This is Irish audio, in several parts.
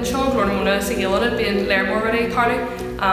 Anseo i nGlór na Móna sa Ghael-Ionad bíonn léar mór rudaí ag tarlú.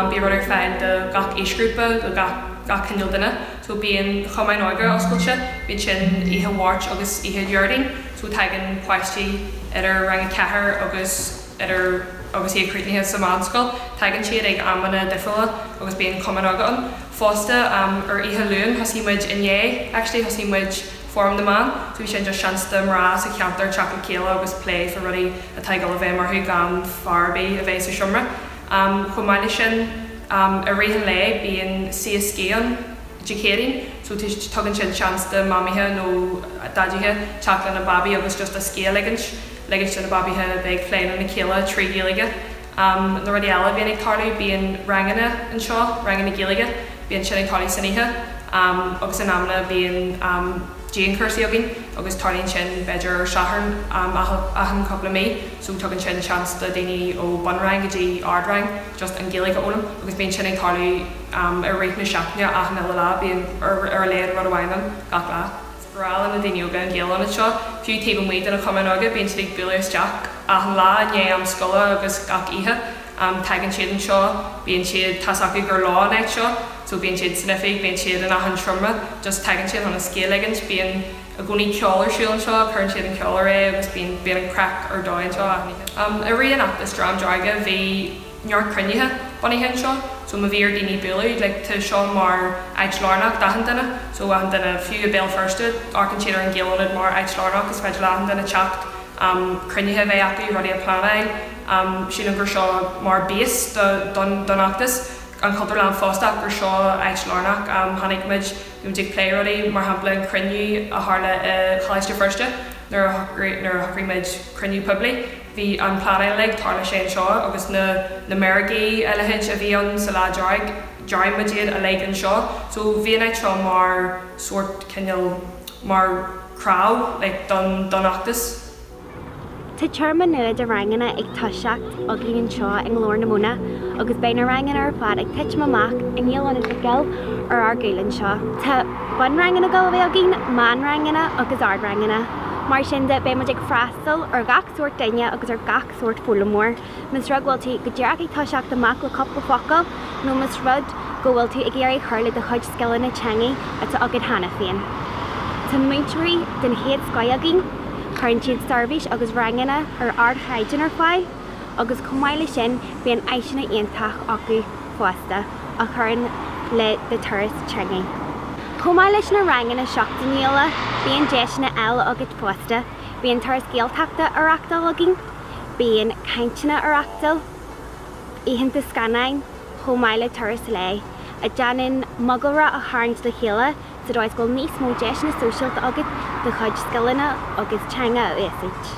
Bíonn rud ar fáil do gach aoisghrúpa, do gach gach cineál duine. So bíonn cumann óige oscailte, bíonn sin oíche Mháirt agus oíche Dhéardaoin. So tagann páistí idir rang a ceathair agus. ar ar agus iad críochnaithe sa mheánscoil, tagann siad ag amanna difriúla agus bíonn cumann againn. Fosta, am, ar oíche Luain thosaigh muid, inné actually thosaigh muid Fóram na mBan, so bhí sin just seans do mná sa cheantar teacht le chéile agus plé fá rudaí atá ag dul i bhfeidhm orthu gan fear ar bith a bheith sa seomra. Am, chomh maith le sin, am, i rith an lae bíonn Suí is Scíth ann, Dé Céadaoin. So arís, tugann siad seans do Mamaithe nó Daidithe teacht lena babaí agus just a scíth a ligint, ligint do na babaithe a bheith ag plé lena chéile trí Ghaeilge. Am na rudaí eile a bhíonn ag tarlú bíonn ranganna anseo, ranganna Gaeilge, bíonn sin ag tarlú san oíche. Am agus in amanna bíonn am dianchúrsaí againn agus tarlaíonn sin b'fhéidir ar Shatharn am achan cúpla mí. So tugann sin seans do daoine ó bunrang go dtí ardrang just an Ghaeilge a fhoghlaim agus bíonn sin ag tarlú, i rith na seachtaine achan uile lá. Bíonn ar a laghad rud amháin ann gach lá. Is breá le na daoine óga an Ghael-Ionad seo. Fiú taobh amuigh de na cumainn óige bíonn siad ag bualadh isteach achan lá i ndiaidh am scoile agus gach oíche tagann siad anseo. Bíonn siad, tá's acu gur leo an áit seo so bíonn siad san oifig, bíonn siad in achan seomra, just tagann siad chun a scíth a ligint. Bíonn i gcónaí ceol ar siúl anseo, cuireann siad an ceol air agus bíonn an craic ar dóigh anseo achan oíche. I rith an fheachtais Dream Dearg bhí. neart cruinnithe bunaithe anseo so má bhí ar daoine bualadh like tá seo mar áit lárnach d'achan duine so achan duine fiú i Béal Feirste amharcann siad ar an Ghael-Ionad mar áit lárnach is féidir le achan duine teacht am cruinnithe a bheith acu rudaí a pleanáil am sílim gur seo mar base do don don fheachtas an Chultúrlann fosta ach gur seo áit lárnach am tháinig muid you know ag plé rudaí mar shampla an cruinniú a tharla i Choláiste Feirste nuair a nuair a shocraigh muid cruinniú poiblí Bhí an pleanáil uilig tharla sin anseo agus na na meirgí a leithéid a bhí ann sa Lá Dearg dearnadh iad uilig anseo so bhí an áit seo mar sórt cineál mar chraobh like don don fheachtas. Tá téarma nua de ranganna ag toiseacht againn anseo i nGlór na Móna agus beidh na ranganna ar fad ag titim amach i nGael-Ionad Mhic Goill ar ár gcúl anseo. Tá bunranganna Gaeilge againn, meánranganna agus ardranganna. Mar sin de beidh muid ag freastal ar an gcúrsa Gaeilge anseo. Fill ar gach sórt duine agus ar gach sórt foghlaimeoir. Más rud go bhfuil tú go díreach ag toiseacht amach le cúpla focal nó más rud go bhfuil tú ag iarraidh cur le do chuid scileanna teangaidh atá agat cheana féin. Tá múinteoirí den chéad scoith againn, cuireann siad seirbhís agus ranganna ar ardchaighdeán ar fáil agus chomh maith le sin bíonn áiseanna iontacha acu fosta a chuireann le do thuras teangaidh. Chomh maith leis na ranganna seachtainiúla bíonn deiseanna eile agat fosta. Bíonn Turas Gaeltachta á reachtáil againn, bíonn cainteanna á reachtáil, oícheanta scannáin chomh maith le turais lae a déanann mogalra a tharraingt le chéile sa dóigh is go bhfuil níos mó deiseanna sóisialta agat do chuid scileanna teangaidh a úsáid.